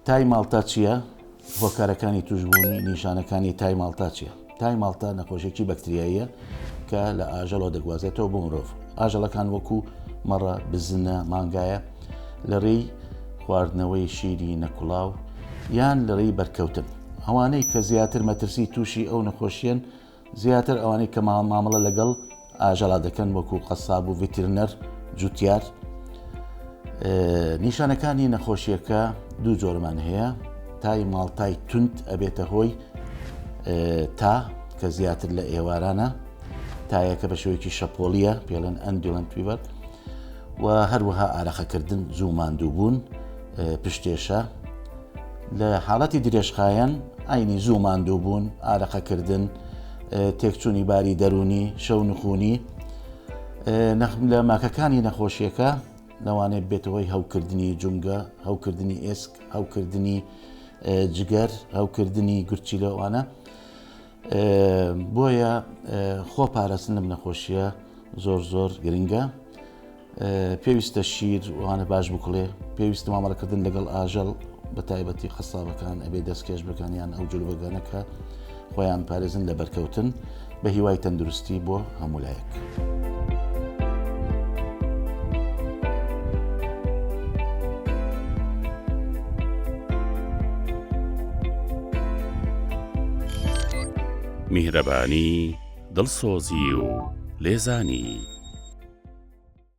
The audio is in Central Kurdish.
تای ماڵتا چییە؟ هۆکارەکانی تووشبوونی نیشانەکانی تای ماڵتا چییە؟ تای ماڵتا نەخۆشێکی بەکتریاییە کە لە ئاژەڵەوە دەگوازێتەوە بۆ مرۆڤ ئاژەڵەکان وەکو مەڕە بزنە مانگایە لە ڕێی خواردنەوەی شیری نەکوڵاو یان لە ڕێی بەرکەوتن ئەوانەی کە زیاتر مەترسی تووشی ئەو نەخۆشیەن زیاتر ئەوانەی کە مامەڵە لەگەڵ ئاژەڵا دەکەن وەکو قەساب و ڤتیرنەر جوتیار نیشانەکانی نەخۆشیەکە دوو جۆرمان هەیە تای ماڵتای تونند ئەبێتە هۆی تا کە زیاتر لە ئێوارانە تایەکە بە شوێکی شەپۆلیە پێڵێن ئەندیڵند پیبەر و هەروەها ئارەخەکردن زوو ماندوو بوون پشتێشە، لە حاڵەتی درێژخایەن ئاینی زوو ماندووبوون، ئارەقەکردن، تێکچوونی باری دەروونی، شەو نخونی لە ماکەکانی نەخۆشیەکە لەوانێت بێتەوەی هەوکردنی جونگە، هەوکردنی ئێسک، هەوکردنی جگەر، هەوکردنی گرچی لەوانە. بۆیە خۆ پارستن لەم نەخۆشیە زۆر زۆر گرنگە. پێویستە شیر وانە باش بکڵێ پێویستە مامەڵەکردن لەگەڵ ئاژەڵ بە تایبەتی قەسابەکان ئەبێ دەستکێش بکەنیان ئەو جلوبەگەنەکە خۆیان پارێزن لە بەرکەوتن بە هیوای تەندروستی بۆ هەمولایەک. میهرەبانی دڵسۆزی و لێزانی